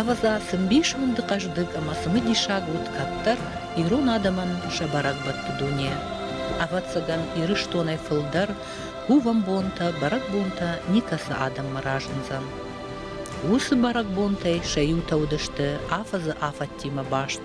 Ӕвӕдза, цы мбисонды хъӕздыг ӕмӕ цымыдисаг уыд кӕддӕр ирон адӕмӕн сӕ бӕрӕгбӕтты дуне. Ӕвӕццӕгӕн, Ирыстонӕй фылдӕр кувӕнбонтӕ, бӕрӕгбонтӕ никӕцы адӕммӕ разындзӕн. Уыцы бӕрӕгбонтӕй сӕ иутӕ уыдысты афӕдзы афӕдтимӕ баст.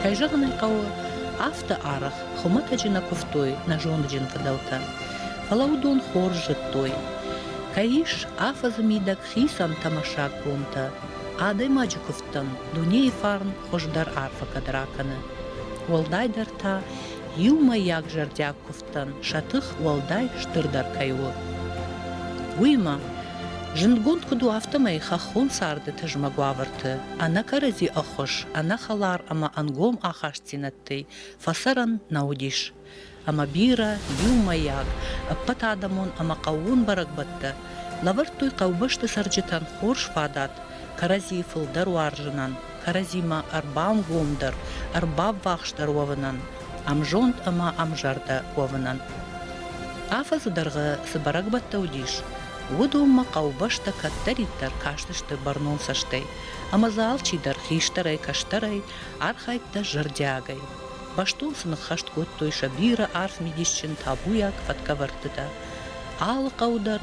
Кӕй зӕгъын ӕй хъӕуы, афтӕ арӕх хуымӕтӕджы нӕ куывтой нӕ зондджын фыдӕлтӕ, фӕлӕ уыдон хорз зыдтой, кӕй ис афӕдзы мидӕг хицӕн тамашаг бонтӕ. Адӕймаджы куывдтӕн дунейы фарн хуыздӕр арфӕ кӕд ракӕны. Уӕлдайдӕр та иумӕйаг зӕрдиаг куывд хӕдзӕрттӕн сӕ тых уӕлдай стырдӕр кӕй у. Уыимӕ, зындгонд куыд у, афтӕмӕй хӕххон царды тызмӕг уавӕрты ӕнӕкӕрӕдзи ӕххуыс, ӕнӕхӕлар ӕмӕ ӕнгом ахастдзинӕдтӕй фӕцӕрӕн нӕ уыдис. Ӕмӕ бирӕ иумӕйаг, ӕппӕтадӕмон ӕмӕ хъӕууон бӕрӕгбӕттӕ лӕвӕрдтой хъӕубӕсты цӕрджытӕн хорз фадат кӕрӕдзийы фылдӕр уарзынӕн. кӕрӕдзимӕ ӕрбамгомдӕр, ӕрбаввахсдӕр уӕвынӕн, ӕмзонд ӕмӕ ӕмзӕрдӕ уӕвынӕн. Афӕдзы дӕргъы цы бӕрӕгбӕттӕ уыдис, уыдонмӕ хъӕубӕстӕ кӕддӕриддӕр кастысты бӕрнон цӕстӕй, ӕмӕ дзы алчидӕр хистӕрӕй, кӕстӕрӕй архайдта зӕрдиагӕй. Бӕстон сын ӕххӕст кодтой сӕ бирӕ арф мидисджын табуйаг фӕткӕвӕрдтытӕ. Алы хъӕу дӕр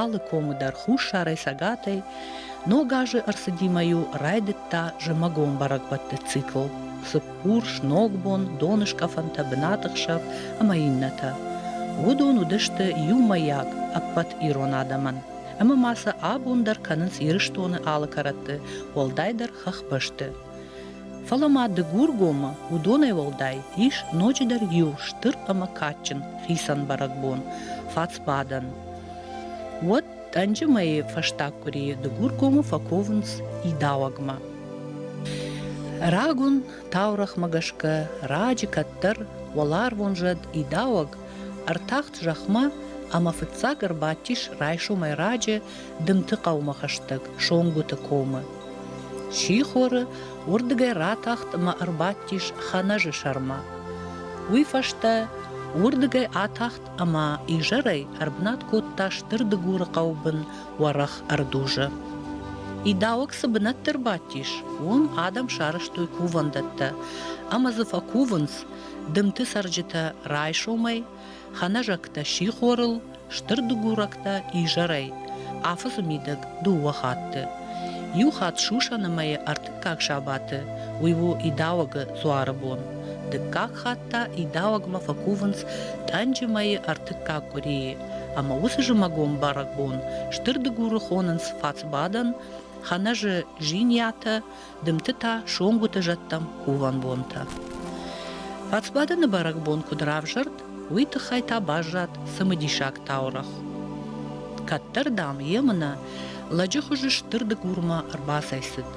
Алы комы дӕр хуссарӕй, цӕгатӕй ног азы ӕрцыдимӕ-иу райдыдта зымӕгон бӕрӕгбӕтты цикл цыппурс, ногбон, доныскъӕфӕнтӕ, бынаты хсӕв ӕмӕ иннӕтӕ. Уыдон уыдысты иумӕйаг ӕппӕт ирон адӕмӕн. Ӕмӕ ма сӕ абон дӕр кӕнынц Ирыстоны алы кӕрӕтты, уӕлдайдӕр хӕхбӕсты. Фӕлӕ ма Дыгургомы уыдонӕй уӕлдай ис ноджыдӕр иу стыр ӕмӕ кадджын хицӕн бӕрӕгбон – фацбадӕн. Уӕд тъӕнджы мӕйы фӕстаг къуырийы Дыгургомы фӕковынц идауӕгмӕ. Рагон таурӕхмӕ гӕсгӕ раджы кӕддӕр уӕларвон зӕд идауӕг ӕртахт зӕхмӕ ӕмӕ фыццаг ӕрбадтис райсомӕй раджы Дымты хъӕумӕ хӕстӕг, Сонгуыты комы. Сихоры уырдыгӕй ратахт ӕмӕ ӕрбадтис Ханӕзы сӕрмӕ. Уый фӕстӕ уырдыгӕй атахт ӕмӕ изӕрӕй ӕрбынат кодта Стыр Дыгуры хъӕубын уӕрӕх ӕрдузы. Идауӕг цы бынӕтты рбадтис, уым адӕм сарӕзтой кувӕндӕттӕ, ӕмӕ дзы фӕкувынц, дымты цӕрджытӕ райсомӕй Хӕнӕзӕгтӕ сихорыл, стыр дыгурӕгтӕ изӕрӕй, афыфы мидӕг дыууӕ хатты. Иу хатт сусӕны мӕйы ӕртыккаг сабаты, уый у идауӕгы дзуары бон. Дыккаг хатт та идауӕгмӕ фӕкувынц тъӕнджы мӕйы ӕртыккаг къуырийы, ӕмӕ уыцы зымӕгон бӕрӕгбон стыр дыгуры хонынц фацбадӕн, Хӕнӕзы жиньятӕ, дымты та сонгуыты зӕдтӕм хувӕн бонтӕ. Фацбадӕны бӕрӕгбон куыд равзӕрд, уый тыххӕй та баззад цымыдисаг таурӕгъ. Кӕддӕр, дам, емынӕ лӕджы хуызы стыр дыгурмӕ ӕрбацӕйцыд,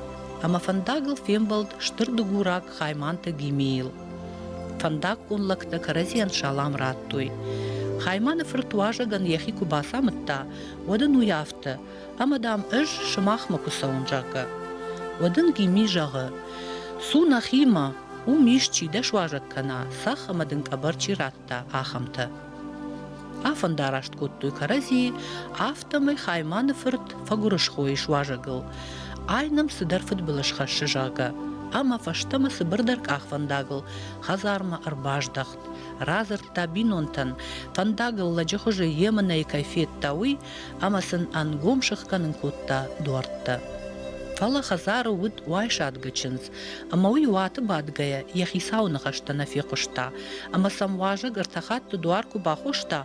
ӕмӕ фӕндагыл фембӕлд стыр дыгураг Хайманты Гимейыл. Фӕндаггон лӕгтӕ кӕрӕдзийӕн салам радтой. Хайманы фырт уазӕгӕн йӕхи куы бацамыдта, уӕд ын уый афтӕ: ӕмӕ, дам, ӕз сымахмӕ куы цӕуын, зӕгъгӕ, уӕд ын Гимми зӕгъы, Цу нӕхимӕ, уым исчи дӕ суазӕг кӕна, цӕхх ӕмӕ дын къӕбӕр чи радта, ахӕмтӕ. Афӕндараст кодтой кӕрӕдзийы, афтӕмӕй Хайманы фырт фӕгуырысхойы суазӕгыл. Ай нӕм цыдӕр фыдбылыз хӕссы, зӕгъгӕ, ӕмӕ фӕстӕмӕ цыбырдӕр къахвӕндагыл хӕдзармӕ ӕрбаздӕхт. Радзырдта бинонтӕн, фӕндагыл лӕджыхуызы емынӕйы кӕй федта, уый, ӕмӕ сын ӕнгом сыхгӕнын кодта дуӕрттӕ. Фӕлӕ хӕдзары уыд уайсадгы чындз, ӕмӕ уый уаты бадгӕйӕ йӕ хицауы ныхӕстӕ нӕ фехъуыста, ӕмӕ сӕм уазӕг ӕртӕ хатты дуар куы бахоста,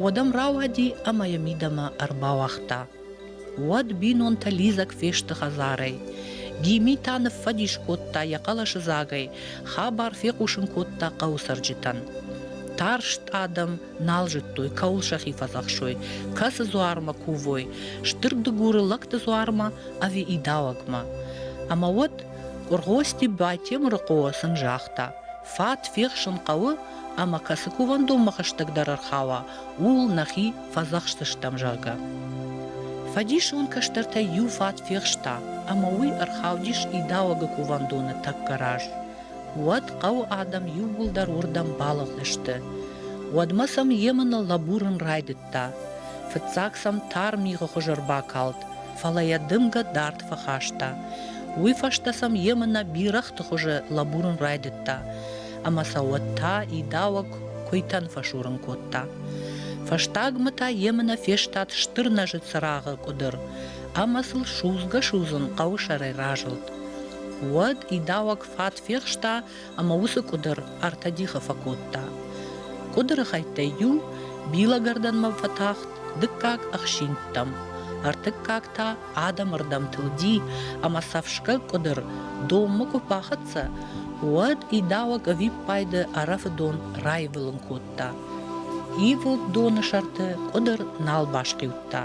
уӕд ӕм рауади ӕмӕ йӕ мидӕмӕ ӕрбауагъта. Уӕд бинонтӕ лидзӕг фесты хӕдзарӕй. Гими та ныффӕдис кодта йӕ хъӕлӕсыдзагӕй, хабар фехъусын кодта хъӕуы цӕрджытӕн. Тарст адӕм нал зыдтой, кӕуыл сӕхи фӕдзӕхсой, кӕцы дзуармӕ кувой, стыр дыгуры лӕгты дзуармӕ ӕви идауӕгмӕ. Ӕмӕ уӕд Къуыргъости Батемырыхъо сын загъта: фат фехсын хъӕуы, ӕмӕ кӕцы кувӕндонмӕ хӕстӕгдӕр ӕрхауа, ууыл нӕхи фӕдзӕхсдзыстӕм, зӕгъгӕ. Фӕдисон кӕстӕртӕй иу фат фехста, ӕмӕ уый ӕрхаудис идауӕгы кувӕндоны тӕккӕ раз. уӕд хъӕуы адӕм иууылдӕр уырдӕм балыгъдысты. Уӕдмӕ сӕм Йемыны лӕбурын райдыдта. Фыццаг сӕм тар мигъы хуыз ӕрбакалд, фӕлӕ йӕ дымгӕ дард фӕхаста. Уый фӕстӕ сӕм Йемынӕ бирӕгъты хуызы лӕбурын райдыдта, ӕмӕ сӕ уӕд та идауӕг куыйтӕн фӕсурын кодта. Фӕстагмӕ та Йемынӕ фестад стыр нӕзы цырагъы къуыдыр ӕмӕ сыл судзгӕ-судзын хъӕуы сӕрӕй разылд. Уӕд идауӕг фат фехста ӕмӕ уыцы къуыдыр ӕртӕ дихы фӕкодта. Къуыдыры хӕйттӕй иу билӕгӕрдӕнмӕ фӕтахт дыккаг ӕхсинтӕм, ӕртыккаг та адӕмы рдӕм тылди ӕмӕ сӕфсгӕ къуыдыр донмӕ куы бахӕццӕ, уӕд идауӕг ӕвиппайды ӕрӕфы дон раивылын кодта. Ивылд доны сӕрты къуыдыр нал басхъиудта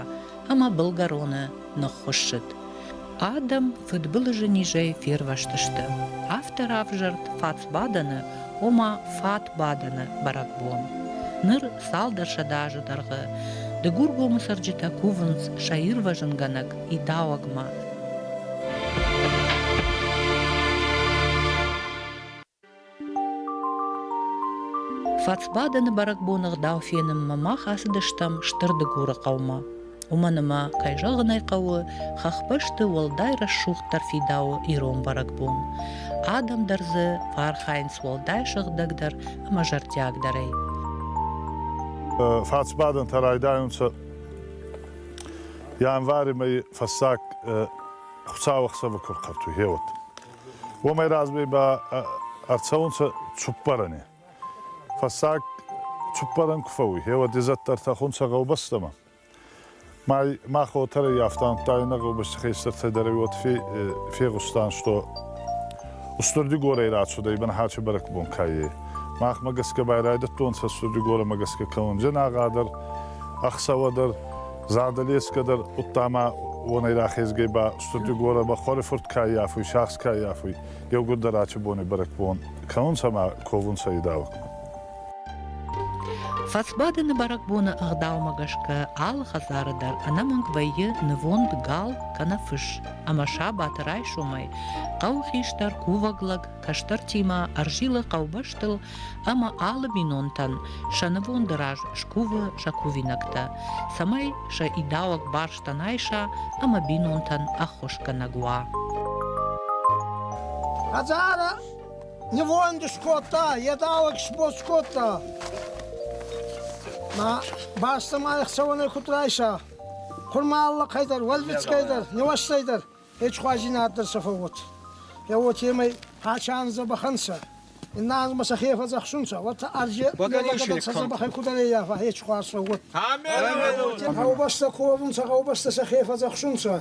ӕмӕ былгӕроны ныххуыссыд. Адӕм фыдбылызы низӕй фервӕзтысты. Афтӕ равзӕрд фатсбадӕны, ома фатбадӕны бӕрӕгбон. Ныр цалдӕр сӕдӕ азы дӕргъы Дыгургомы цӕрджытӕ кувынц сӕ ирвӕзынгӕнӕг идауӕгмӕ. Фацбадӕны бӕрӕгбоны гъдау фенынмӕ мах ацыдыстӕм Стыр Дыгуры хъӕумӕ. Уымӕн ӕмӕ, кӕй зӕгъын ӕй хъӕуы, хӕхбӕсты уӕлдай рӕсугъддӕр фидауы ирон бӕрӕгбон. Адӕм дӕр дзы фӕархайынц уӕлдай сыгъдӕгдӕр ӕмӕ зӕрдиагдӕрӕй. Фацбадӕнтӕ райдайунцӕ январи мӕйи фӕссаг Хуцауӕхсӕвӕ ку рхъӕртуй, хеуӕт. уомӕй разве ба ӕрцӕунцӕ цуппӕрӕни. Фӕссаг цуппӕрӕн ку фӕууй, хеуӕд изӕддӕр тӕхунцӕ гъӕубӕстӕмӕ. Ма хотӕр ӕййафтӕнттӕ иннӕ гъӕубӕсти хестӕртӕй дӕр уотӕ фегъустан, што Устурдигорӕй рацудӕй Бӕнхачи бӕрӕгбон каййӕй. Махмӕ гӕсгӕ байрайдӕдтонцӕ Устурдигорӕмӕ гӕсгӕ кӕунджӕнагъӕ дӕр, ӕхсӕвӕ дӕр. Зардалесгӕ дӕр удтамӕ уонӕй рахезгӕй ба Студгора ба хуӕрифурт каййафуй, сахс каййафуй, еугурдӕр ачи бони бӕрӕгбон кӕунцӕмӕ ковунцӕ идауг. Фӕсбадӕны бӕрӕгбоны ӕгъдаумӕ гӕсгӕ алы хӕдзары дӕр ӕнӕмӕнг вӕййы нывонд гал кӕнӕ фыс, ӕмӕ сабаты райсомӕй хъӕуы хистӕр кувӕг лӕг кӕстӕртимӕ ӕрзилы хъӕубӕстыл ӕмӕ алы бинонтӕн сӕ нывонды раз скувы сӕ кувинӕгтӕ, цӕмӕй сӕ идауӕг барстӕн айса ӕмӕ бинонтӕн ӕххуысгӕнӕг уа. Хӕдзары нывонды скодта, едауӕг сбоц кодта. Ма бӕстӕмӕ ӕхцӕуӕнӕй куыд райса? Хурмалла дӕр, уӕлбицкӕй дӕр, нуӕстӕй дӕр. Ечхуазинат дӕр сӕ фӕуот. Е уотемӕй хачан забахӕнцӕ. Иннанмӕ сӕхе фӕдзӕхсунцӕ, уотӕ арже легъагӕбӕл сӕ забахӕй кудӕреййафа ечхуаз фӕуот. Гъӕубӕстӕ ковунцӕ, гъӕубӕстӕ сӕхе фӕдзӕхсунцӕ.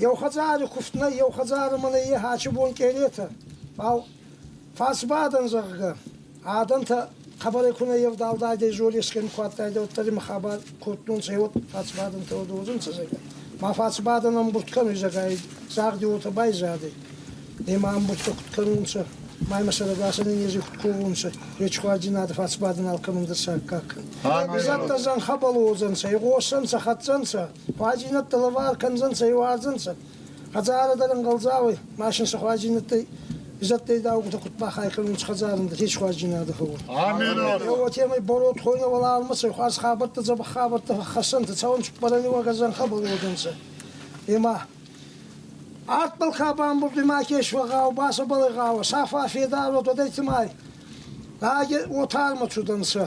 Еу хӕдзари куфт нӕй, еу хӕдзарӕмӕ нӕййе хачи бон кенетӕ. Фал Фӕцбадӕн, зӕгъгӕ, адӕнтӕ хъӕбӕрӕй ку нӕ евдалдайдӕй золесгӕй ку адтайдӕ, уӕддӕр имӕ хабар кодтонцӕ, уот фӕцбадӕнтӕ уодӕ уодзӕнцӕ, зӕгъгӕ. Ма фӕцбадӕн ӕмбурд кӕнуй, зӕгъгӕ, загъди уотӕ байзадӕй. Ема ӕмбурдтӕ куд кӕнунцӕ, ма имӕ сӕрӕгасӕн нези куд ковунцӕ, речхуадзийнадӕ фӕцбадӕн алкӕмӕн дӕр саккаг кӕн. Изӕдтӕ зӕнхӕбӕл уодзӕнцӕ, игъосӕнцӕ, хӕццӕнцӕ, хуадзийнӕдтӕ лӕвар кӕндзӕнцӕ, иуарзӕнцӕ. Хӕдзарӕ дӕр ӕнгъӕлдзауӕй, машин сахуарджинӕдтӕй, изӕдтӕй даугутӕ куд бахай кӕнунц хӕдзарӕн хесхуарджинадӕ фӕууӕн. Уотемӕй бород хойнӕ уӕлармӕцӕй хуарз хабӕрттӕ, дзӕбӕх хабӕрттӕ фӕххӕссӕнтӕ, цӕуӕн цуппӕрӕни уогӕ зӕнхӕ балуодӕнцӕ. Ема артбӕл ка бамбурд ма кесуӕ гъӕу, бацӕбӕлӕй гъӕуӕ, сафа федар уод уодӕй цӕмӕй? Лагер уотармӕ цудӕнцӕ.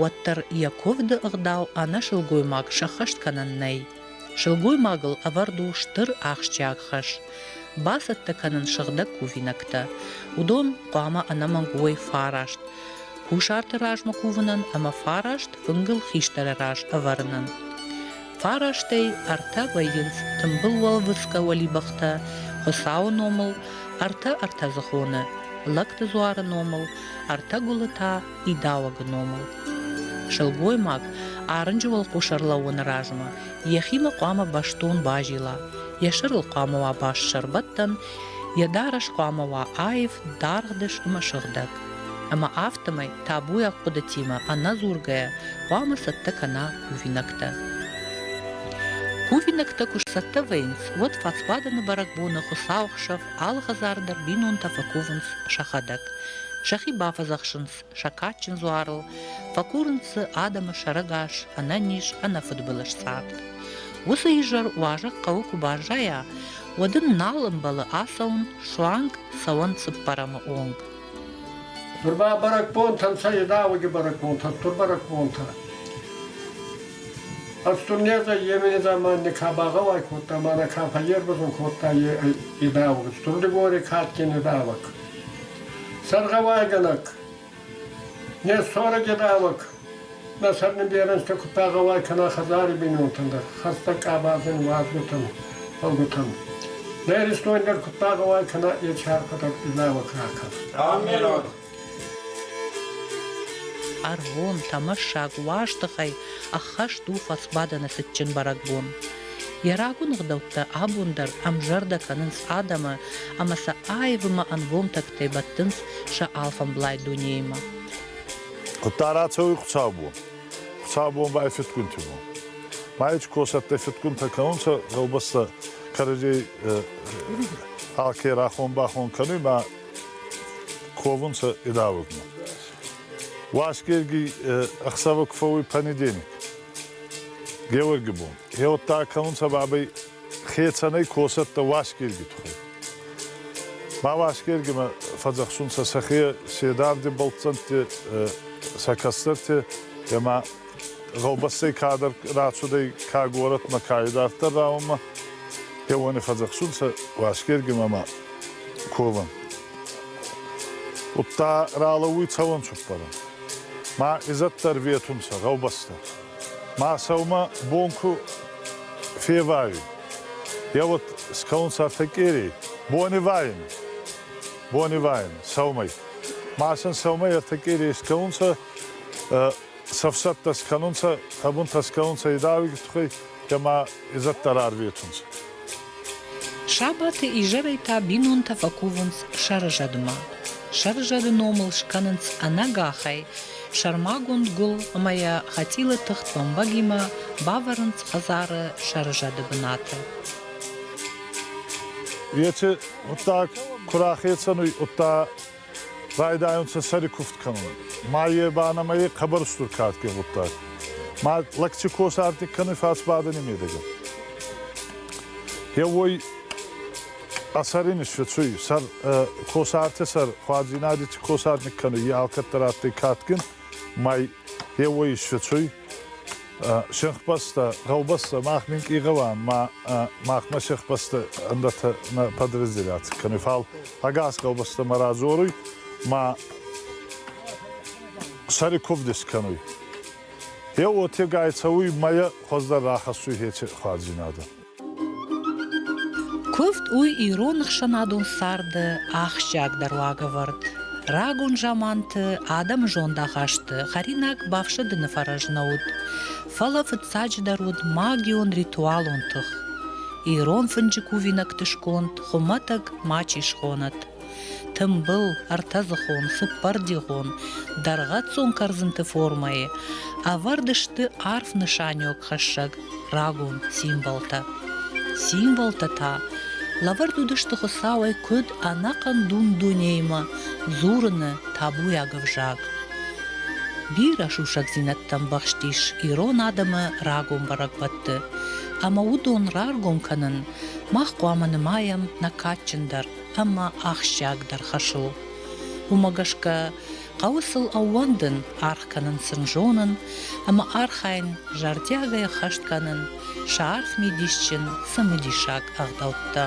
уӕддӕр йӕ куывды ӕгъдау ӕнӕ сылгоймаг сӕххӕст кӕнӕн нӕй. Сылгоймагыл ӕвӕрд у стыр ахсджиаг хӕс. Бацӕттӕ кӕнын сыгъдӕг кувинӕгтӕ. Уыдон хъуамӕ ӕнӕмӕнг уой фараст. Кусарты размӕ кувынӕн ӕмӕ фараст фынгыл хистӕры раз ӕвӕрынӕн. Фарастӕй ӕртӕ вӕййынц тымбыл уӕлвыцгӕ уӕлибӕхтӕ, Хуыцауы номыл, ӕртӕ ӕртӕдзыхоны, лӕгты дзуары номыл, ӕртӕ гуылы та идауӕг номыл. Сылгоймаг арынджы уӕлхъус ӕрлӕууыны размӕ йӕхимӕ хъуамӕ бӕстон базила, йӕ сӕрыл хъуамӕ уа баст сӕрбӕттӕн, йӕ дарӕс хъуамӕ уа аив, даргъ дыс ӕмӕ сыгъдӕг. Ӕмӕ афтӕмӕй табуйаг хъуыдытимӕ ӕнӕдзургӕйӕ хъуамӕ цӕттӕ кӕна кувинӕгтӕ. Кувинӕгтӕ куы сцӕттӕ вӕййынц, уӕд фӕцбадӕны бӕрӕгбоны Хуыцауы хсӕв алхӕдзар дӕр бинонтӕ фӕкувынц сӕхӕдӕг. Сӕхи бафӕдзӕхсынц сӕ кадджын дзуарыл, фӕкурынц дзы адӕмы сӕрӕгас ӕнӕниз, ӕнӕфыдбылызцъӕх. Уыцы изӕр уазӕг хъӕуы куы баззайа, уӕд ын нал ӕмбӕлы ацӕуын суанг цӕуӕн цыппӕрӕмы онг. Нур ба бӕрӕгбонтӕ нцӕ едауӕги бӕрӕгбонтӕ, тур бӕрӕгбонтӕ. Ӕстун незӕ емени заманни ка багъӕуай кодта, ма нӕ ка фӕйербазун кодта е едауӕг. Стур Дигори кадгин едауӕг. Саргъауайгӕнӕг. Не сорӕги рӕвӕг. Нӕ сӕрнеберенстӕ куд багъӕуай кӕна хӕдзари бийнонтӕн дӕр, хӕстӕг къабазин уадзгутӕн, фӕлгутӕн. Нӕ Иристон дӕр куд багъӕуай кӕна е чархӕдӕр лӕвӕг ракӕн. Аминот! Ӕргъон, тӕмӕссаг уӕзтыхӕй ӕххӕст у фӕсбадӕны цытджын бӕрӕгбон. Йӕ рагон ӕгъдӕуттӕ абон дӕр ӕмзӕрдӕ кӕнынц адӕмы ӕмӕ сӕ аивмӕ ӕнгом тӕгтӕй бӕттынц сӕ алфӕмблай дунеимӕ. Хъуыддаг рацӕуй Хуцаубон. Хуцаубон ба ӕй фидгунти бон. Майичи косӕттӕй фидгунтӕ кӕнунцӕ гъӕубӕстӕ кӕрӕдзей алке рахон-бахон кӕнуй ма ковунцӕ идавӕгмӕ. Уасгерги ӕхсӕвӕ ку фӕууй понедельник, Геуӕрги бон. Еудта кӕнунцӕ бабӕй хецӕнӕй косӕттӕ Уасгерги туххӕй. Ма Уасгергимӕ фӕдзӕхсунцӕ сӕхе седавди бӕлццӕнтти сӕ кӕстӕрти ӕма гъӕубӕстӕй кадӕр рацудӕй ка горӕтмӕ, ка идарддӕр раунмӕ, еуони фӕдзӕхсунцӕ Уасгергимӕ ма ковӕн. Удта ралӕууй цӕуӕн цуппӕрӕн. Ма изӕддӕр ветунцӕ гъӕубӕстӕ. Ма сӕумӕ бон ку февайуй, е уӕд скӕунцӕ фӕкъерей, бонивайӕн, бонивайӕн сӕумӕй. Ма сын сӕумӕ ертӕ къерей скӕунцӕ, цӕфсӕттӕ скӕнунцӕ, ӕ бунтӕ скӕнунцӕ идауи тухӕй, ӕма изӕддӕр ӕрветунцӕ. Сабаты изӕрӕй та бинонтӕ фӕкувынц сӕрызӕдмӕ. Сӕрызӕды номыл скӕнынц ӕнӕгахӕй сӕрмагонд гуыл ӕмӕ йӕ хӕцъилы тыхт бӕмбӕгимӕ бавӕрынц хӕдзары сӕрызӕды бынаты. Еци гъуддаг ку рахецӕн уй, удта Райдайунцӕ сӕри кувд кӕнун. Ма е ба нӕмӕ е хъӕбӕр стур кадке гъуддаг. Ма лӕгчи косарти кӕнуй фӕсбадӕни медӕгӕ. Е уой а сӕри нисфӕцуй, сӕр косарти сӕр хуадзийнади ци косарник кӕнуй, е алкӕддӕр адтӕй кадгин, ма е уой исфӕцуй. сӕхбӕстӕ, гъӕубӕстӕ, мах минкъий гъӕуӕн ма махмӕ сӕхбӕстӕ ӕндӕртӕ нӕ подразделяци кӕнуй. Фал ӕгас гъӕубӕстӕмӕ радзоруй ма сӕри кувдис кӕнуй. Е уотегай цӕуй мӕйӕ хуӕздӕр рахӕссуй хечи хуарздзийнадӕ. Куывд у ирон ӕхсӕнадон царды ахсджиагдӕр уагӕвӕрд. Рагон заманты адӕмы зондахасты хӕринаг бафсӕдыны фӕрӕз нӕ уыд, фӕлӕ фыццаджыдӕр уыд магион-ритуалон тых. Ирон фынджы кувинӕгты сконд хуымӕтӕг ма чи схонӕт, Тымбыл, ӕртӕдзыхон, цыппӕрдигъон, дӕргъӕццон кӕрдзынты формӕйы ӕвӕрд сты арф нысаниуӕгхӕссӕг рагон символтӕ. Символтӕ та лӕвӕрд уыдысты Хуыцауӕй куыд ӕнӕхъӕн дун-дунеймӕ дзурыны табуйаг ӕвзаг. Бирӕ сусӕгдзинӕдтӕ ӕмбӕхстис ирон адӕмы рагон бӕрӕгбӕтты, ӕмӕ уыдон раргом кӕнын мах хъуамӕ нымайӕм нӕ кадджындӕр ӕмӕ ахсджиагдӕр хӕс у. Уымӕ гӕсгӕ хъӕуы сыл ӕууӕндын, аргъ кӕнын сын зонын ӕмӕ архайын, зӕрдиагӕй хӕст кӕнын сӕ арф мидисджын цымыдисаг ӕгъдӕуттӕ.